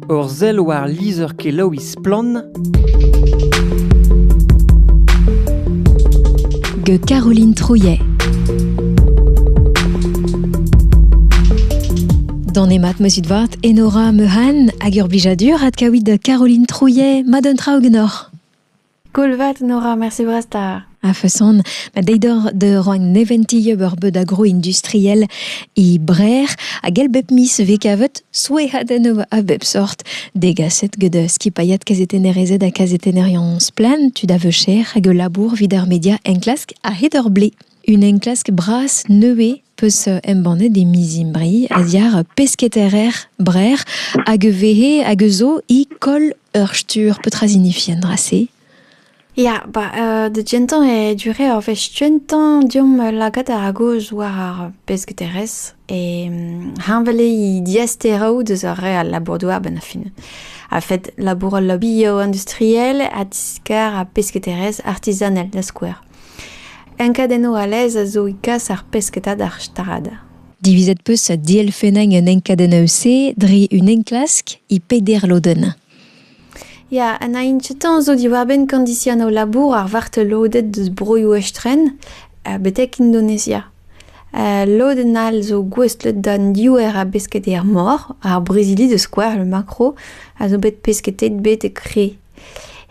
Ur sell war lizher-kelaouiñ Splann! gant Caroline Trouillet. Danemat meuzit vat Enora Meuhan hag ur blijadur adkaouit Caroline Trouillet. Ma d'un tra genoc'h. Cool vat, Nora, merci brastar. A-feson, ma deidor de roagn neventi eur beud agro-industriel e Brer hag el bep mis vez kavet souehadenn a bep sort degaset gant skipailhat kazetennerezed ha kazetennerien splen, tud a veucher hag ul labour vid ar media enklask a-hed ur blez. Un enklask bras nevez peus embannet e miz Imbriz a-ziar pesketaer Brer hag vehe hag zo i koll ur stur petra zinifien dra-se Ya, ba, euh, da gentañ e dure ur wech kentañ deomp lagad a-gozh war ar besketaerezh e mm, heñvel eo diasteroù deus ar re al labour-douar a-benn ar fin. A fed labour al lobby industriel ha diskar ar besketaerezh artizanel da skouer. Enkadennoù a laezh a zo e kas ar pesketa d'ar strad. Divizet 'peus dielfennañ un enkadenn eus-se dre un enklask e peder lodenn. Ya, ha na inchetan zo diwar-benn kondisianoù labour ar vartelodet deus broioù estren, betek Indonesia. lodenn all zo gouestlet d'an diouer a besketa er mor. Ar brizhidi, da skouer le macro, a zo bet pesketet bet e kre.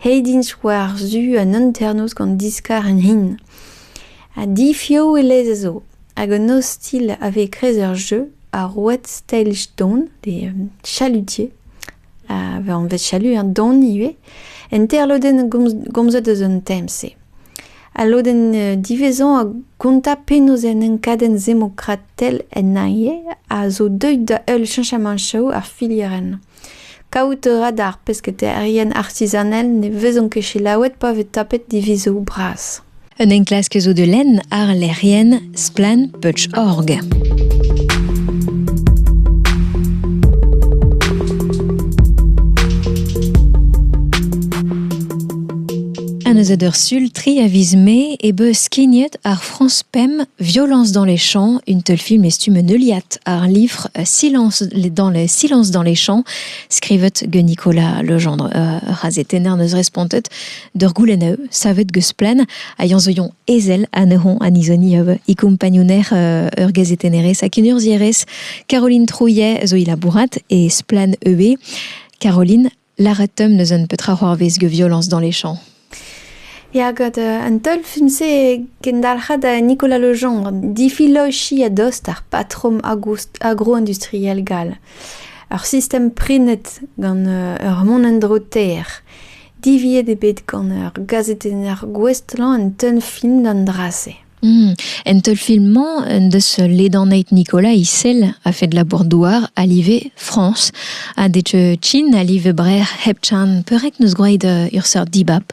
Aet int war-zu an hanternoz gant diskar an hin. Ha difiv e lez a zo. Hag un ostilh a vez e-kreiz ur jeu, ar road stage don, pe chalutier, a vez anvet chalut, hein, don ivez, enterlodenn gomzet eus an tem-se. Al lodenn diwezhañ a gonta penaos an enkadenn demokratel en Aie a zo deuet da heul cheñchamant show ar filierenn. Kaout a ra d'ar pesketaerien artizanel ne vezont ket selaouet pa vez tapet divizoù bras. Un enklask zo da lenn àr lec'hienn Splan.org. An eus ur sul tri a viz mae e beus skignet ar France Pem, Violence dans les champs, une teulfilm et stume neuliat ar livre Silence dans les Silence dans les champs, skrivet ge Nicolas Legendre euh, razetenner neus respontet d'ur goulenn eu savet geus plen a yanzoion ezel a neuhon anizoni euh, i kompagnouner euh, ur gazetennerez a kunurzierez Caroline Trouillet zo i labourat e Splan EB. Caroline, Lâret 'teump n'eus un petra c'hoarvez gant violañs dans les champs. Ya, gant euh, an teulfun-se e kendalc'ha da Nicolas Lejean difilochiñ a-dost ar patrom agro-industriel gall. Ur sistem prenet gant euh, ur mont-en-dro ter. Diviet eo bet gant ur gazetenner gouestlañ an teulfin d'an dra-se. En teulfilm-mañ en deus ledaneit Nicolas Issel a-fed labour-douar a live Frañs ha Deceuchin a live Breac'h hepchan peurrek n'eus gwraet ur seurt dibab.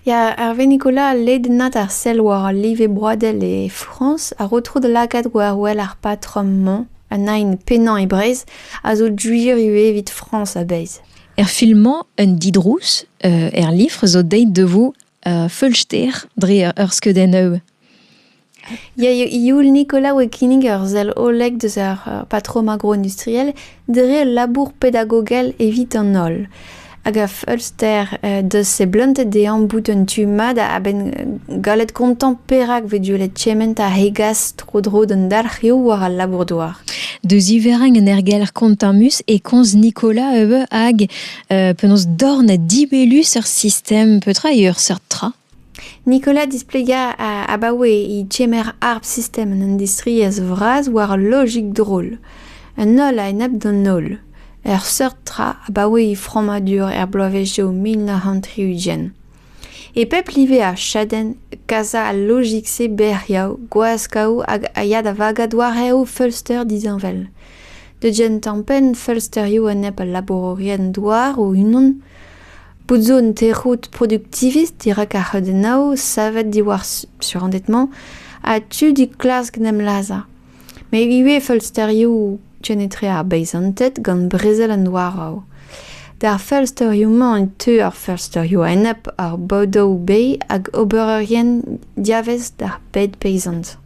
Ya, Hervé Nicolas, ledennad ar sell war al live broadel e Frañs a ro tro da lakaat war-wel ar patrom-mañ, an nain pennañ e Breizh, a zo gwir ivez evit Frañs a-bezh. Er film-mañ, un didrouz, er lifr, zo deit da vo feulster dre ur skeudenn eu. Ya, youl Nicolas oe kinnig ur sell hollek deus ar patrom agro-industriel dre ul labour pedagogel evit an holl. Hag a feulster deus se bluntet de'añ bout un tu mat a-benn gallet kontañ perak vez deuet kement a hegas tro-dro d'an dalc'hioù war al labour-douar. Deus iverrañ un ergelc'h kontamus e komz Nicolas eu hag Euh, penaos dorn ha dibellus ur sistem, petra eo ur seurt tra Nicolas displega abaoe e tchemer harp sistem an industriezh vras war logik drol. Un holl a-enep d'an holl. Ur seurt tra abaoe e frammadur er bloavezhioù mil nav c'hant tri-ugent. E pep live a chadenn kas al lojik-se bec'hiañ, gwaskaoù hag a ya da vagañ doareoù feulster disheñvel. Deut-gen tampenn feulsterioù a nep al labourerien douar o-unan. Bout zo un tec'hout produktivist dirak ar c'heudennoù savet diwar surended-mañ ha tu dit klask 'n em lazhañ. met ivez feulsterioù kenetre ar beizanted gant brezel an douaraù. D'ar feulsterioù-mañ e teu ar feulsterioù a-enep ar Bow-Dow Bay hag obererien diavez d'ar bed peizant.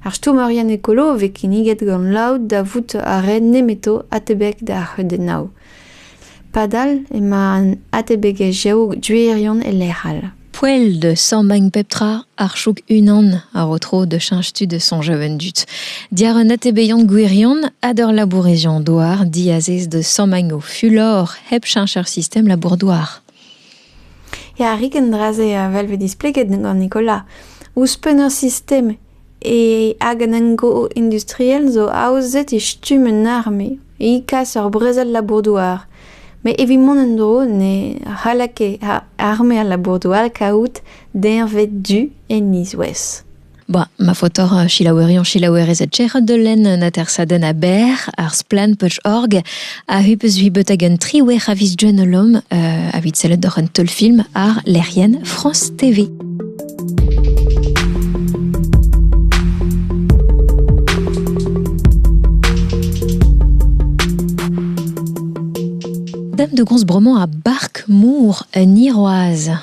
Ar stourmerien ekolo a vez kinniget gant laout da vout a raent nemeto atebek d'ar c'heudennoù. Padal emañ an atebegezhioù gwirion e lec'h all. Poell da sammañ pep tra, ar chouk unan a ro tro da cheñch tud da soñjal an dud. Diàr an atebeziant gwirion ha d'ur labourizion-douar diazez da sammañ o fulor hep cheñch ar sistem labour-douar. Ya, rik an dra-se a-wel vez displeget gant Nicolas. Ouzhpenn ur sistem hag an engo-industriel zo aozet e stumm un arme, e kas ur brezel labour-douar. Met evit mont en-dro ne c'halled ket arme al labour-douar kaout deñved du en izouez. Bon, ma faotoc'h euh, selaouerion selaouerezed Gerard Delen un atersadenn aber, ar splanputch.org, a hu peus hui beut hag un triwec'h a vis journalom euh, avit sellet doc'h un teulfilm ar lec'hienn France TV. Dame de Gonzbremont a bark mour un iroaz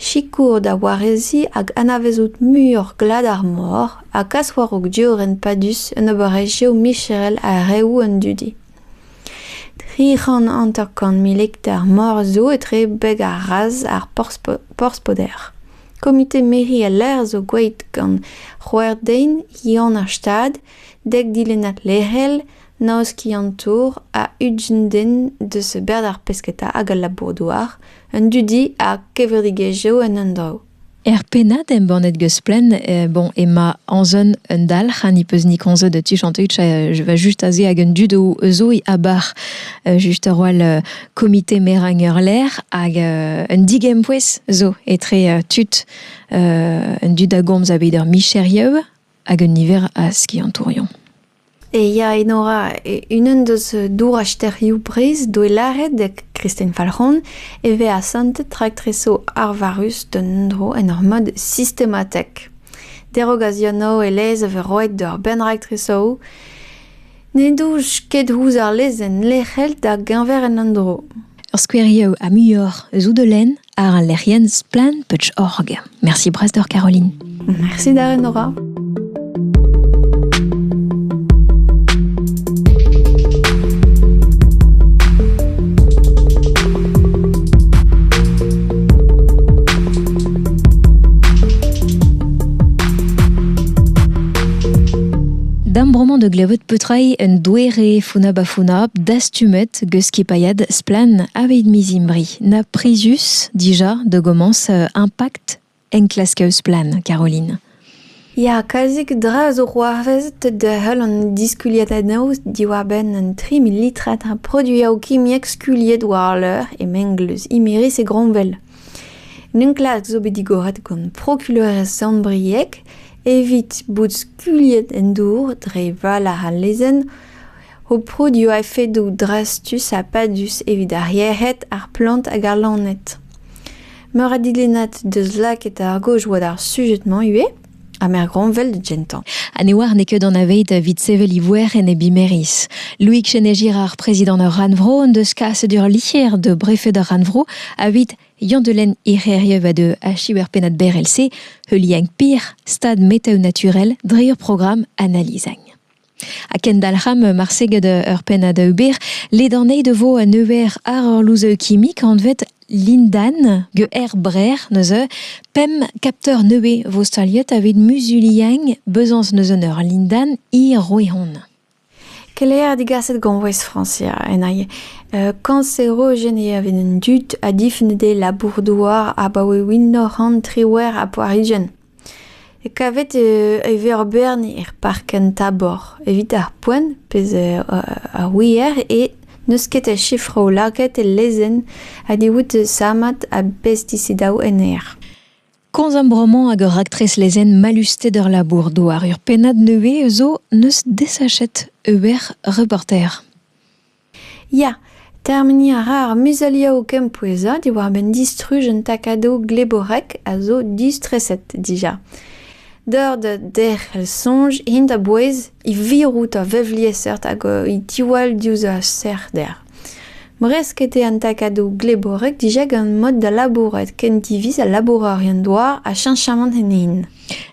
Sikour da wareziñ hag anavezout muioc'h glad ar mor ha kas war-raok diorren padus un oberezhioù micherel ha reoù an dudi. Tri c'hant hanter-kant mil hektar mor zo etre beg ha raz ar Porspoder. Komite mezhi al lec'h zo gwelet gant c'hwec'h den, Yann ar Stad, dek dilennad lec'hel, Noz skiant-tour a ugent den deus berzh ar pesketa hag al labour-douar, an dudi ha kevredigezh Geo en un draoù. Er pennad embannet geus Plen, eh bon ema Anzon un dalc'h ha ni peus ni komzet tu chantout je va just aze hag un dud eus e abar euh, just a-roal euh, komite merañ ur lec'h hag euh, un digempouez zo etre tud un dud a gomz a bet ur micherieu hag un niver a skiantourion. Ya, Enora, unan deus dourañsterioù Breizh douelaret da gristen Falc'hon e vez asantet raktresoù arvarus d'un endro en ur mod sistematek. Derock a-zionav e lez a vez roet d'ur bern raktresoù n'en doj ket ouzh ar lezenn lec'hel da geñver an endro. Ur skouerioù ha muioc'h eus out o lenn? Ar lec'hienn Splann Putsch-Org. Merci brest d'oc'h Caroline. Merci da Nora. Dam broman de glevet peutrai un douere funa bafuna dastumet geus skipailhad Splann aveit mizimbri. na prizius dija da gomañs impact enklask eus plan Caroline. Ya, kalzik dra zo c'hoarvezet da heul an diskuliatadennoù diwar-benn an 3 millilitrat a produioù kimiek skuliet war l'heure e mengleuz Imiris e Gromwell. N'enklask zo bet digoret gant prokuleur Sant-Brieg evit bout skuliet en dour dre val ar lezenn Ho proud eo a-fedoù drastus ha padus evit ar yec'hed, ar plant hag ar loened. Meur a dilennad deus lakaet ar gaoj war ar sujed-mañ ivez, ha mergronvel da gentañ. Ha ne oar n'eo ket an aveid evit sevel ivoer en e bimeriz. Loïc Chenegira, ar prezidant ur rannvro, en deus kaset ur liester da brefed ar rannvro evit Yann-Delen Ec'heriev a deu achu er pennad berrel-se, heuliañ pir stad metaoù naturel dre ur programm analizagn. Ha kendalc'hamp marse gant ur pennad ober. Ledanei de vo un euer ar orlouzeu kimik anvet lindan ge er brer neuze pemp kapteur neue vo staliet avit muzuliañ bezañs neuze ur lindan e Roehon. Keleier digaset goñvouez Francia en aie. Uh, kanserogen eo avit an dud a dif ne de labour-douar abaoe mil nav c'hant triwec'h ha poar-ugent. Kavet e vez ur bern er park en Thabor evit ar poent, pezh a ouier, e n'eus ket a sifroù lakaet el lezenn ha ne out sammad a bestisidaoù en aer. Komz am bromañ hag ur raktres lezenn mallusted ur labour douar. Ur pennad nevez zo 'neus desachet Hubert Reporter. Ya, termeniñ a ra ar muzeliañ o kempouezañ diwar-benn distruj un takadoù gleborek a zo distreset dija. Deuet derc'hel soñj int a-bouez e virout ur vevliesseurt hag e diwall diouzh ur serc'hder. Bresket eo an takadoù gleborek dija gant mod da labourat ken diviz ha labourerien douar ha cheñchamant ennin.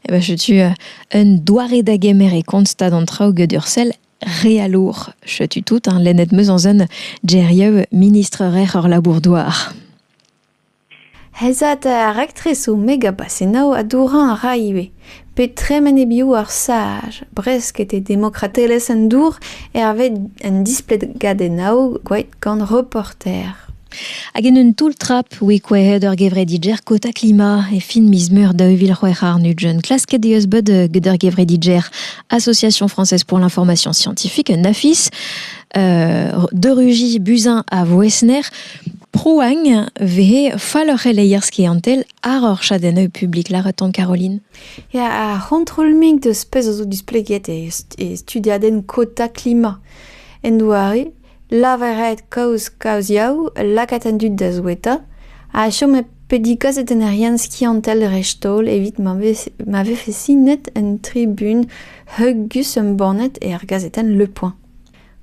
Setu un doare da gemer e kont stad an traoù get ur sell Re a lour. Setu tout, hein, lennet meus anzen gerieu ministr-rer ur labour-douar. Hezat ar rektresoù megabasenaoù a dourañ a ra ivez. Pe tremen e-bioù ar saj, bresket e demokratelezh an dour hervez un displegadennaou gwaet gant reporter. Hag en un toull-trap we kouezhet ur gevredi Jerkot ha Klima e fin miz Meur daou vil c'hwec'h àr-nugent. Klasket eus bet get ur gevredi Jer Association française pour l'information scientifique, un AFIS, euh, de Rugy Buzyn à Voesner, prouagn vehe fall ur c'heleier skiantel ar ur chadennoù publik laraton Caroline. Ya, ar c'hontrol-mink deus pezh a zo displeget e, e studiadenn Kota Klima en doare Lavaret kaoz kaoziaoù lakaat an dud da souetañ ha chom pedikazet en ur yann skiantel dreist-holl evit ma vefe sinet un tribun heugus embannet er gazetenn Le Point.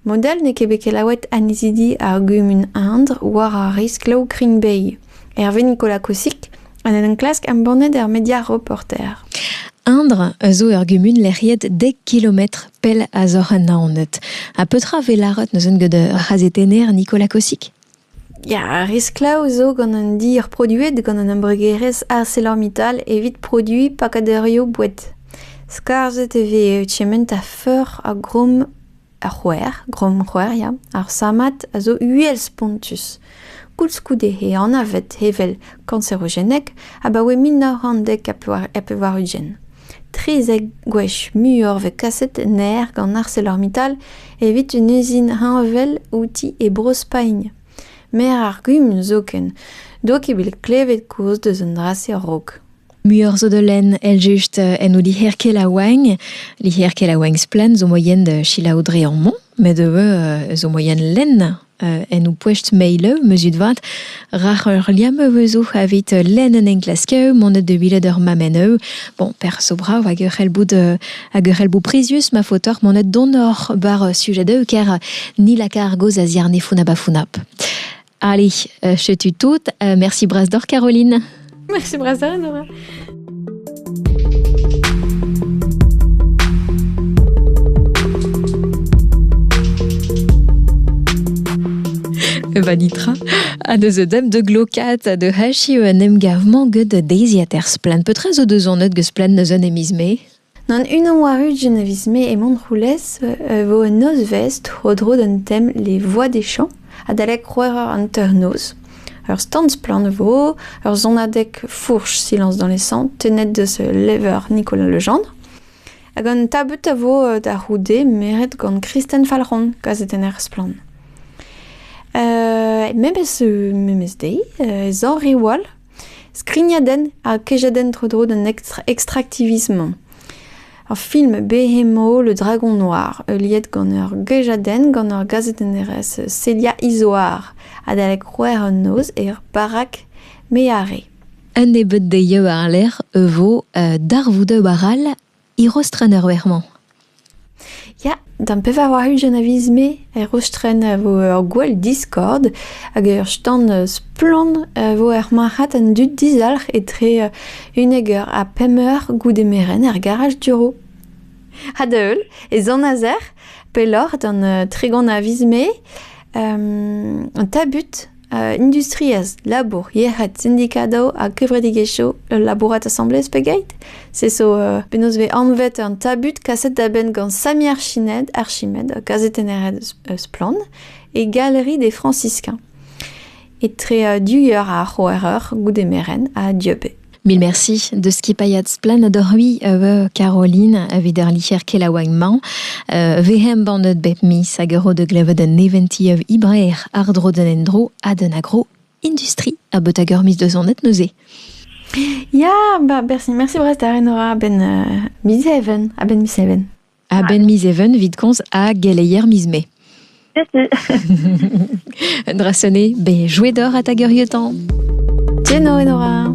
Model n'eo ket bet kelaouet annezidi ar gumun Indre war ar riskloù Green Bay. Hervé Nicolas Kousik en en enklask embannet er media Reporter. Indre a zo ur gumun lec'hiet dek kilometr pell a-zoc'h an Naoned. Ha petra ve laret neuzen gant razetener Nicolas Kousik Ya, ar risklaoù zo gant un dir produet gant an embregerezh ArcelorMittal evit produiñ pakadurioù boued. Skarzhet e vez kement a feur a grom Ar c'houer, grommc'houer ya, ar sammad a zo uhel-spontus. Koulskoude eo anavet evel kanserogenek abaoe mil nav c'hant dek ha pevar-ugent. Trizek gwech muioc'h vez kaset en aer gant ArcelorMittal evit un uzin heñvel outi e Bro-Spagn. Maer ar gumun zoken 'doa ket bet klevet kaoz deus an dra-se a-raok. Muioc'h zo da lenn el just en o liherkel a oagn. Liherkel a oagn splen zo moyen de chilaou dre an mont, met e veu zo moyen lenn en o poest meilev, mezut vat, rac'h ur liam e vezo avit lenn en enklasker, mont de bilet ur mameneu. Bon, per so brav hag ur c'helbout hag ur c'helbout prizius ma faotoc'h mont donor bar sujet de ker ni lakar goz a ziarne funab a funab. Allez, euh, je te toute. Euh, merci Brasdor, Caroline. Merci Brasdor, Nora. Vanitra, à de dem de glokat de hashi un em gav mangue de daisy aters plan. Peut-être o deus an eud gesplan neus un emisme? Gant unan war-ugent a viz-mae e Montroulez e vo un nozvezh tro-dro d'an tem Les Voix des Champs adalek c'hwec'h eur hanter-noz. Ur stand-splann vo, ur sonadeg fourch silañs dans les sangs tennet deus levr Nicolas Legendre. Hag an tabut a vo da c'houde meret gant Kristen Falc'hon, gazetenner splann. Memes, memes deiz, e Zañriwal, Skrignadenn ha kejadenn tro-dro d'an extractivisme. Ur film behemoth, Le Dragon Noir, heuliet gant ur gejadenn gant ur gazetennerez Celia Izoar, adalek c'hwec'h an noz er barak Meare. Un nebeud dezhi war-lerc'h e vo darvoudoù all Erostren er werc'h-mañ. Ya, d'am pevar ugent a viz-me, Erostren a vo ur gwall Discord hag ur stand splann a vo er marc'had an dud dizalc'h etre unnek eur ha pemp eur goude merenn er garaj Duro. Ha da heul, ez an a-zec'h pelloc'h d'an tregont a viz-me, an tabut industriezh, labour, yec'hed, sindikadoù ha kevredigezhioù ul labourat asambles pegeit se zo penaos vez anvet an tabut kaset da benn gant Samir Chinet, archimed, kazetenneret eus Splann, e galerie des franciscains. Etre du ar c'hroereur goude meren ha Dieubet. Mil merci de skipailhat Splanad Rui a veu Caroline evit ar licher kelaouañ-mañ. Uh, ve embannet bep miz hag ro de glevet un eventi ev Ibrer ardro den endro ha den agro industri a bet hag ur miz de zonet neuze. Ya, ba, bersi, merci bras da Renora, ben uh, miz even, a ben miz even. A-benn miz Even evit komz a geleier miz Mai. Un dra sonné, ben, jouet d'or à ta guerietan. Tieno et Nora.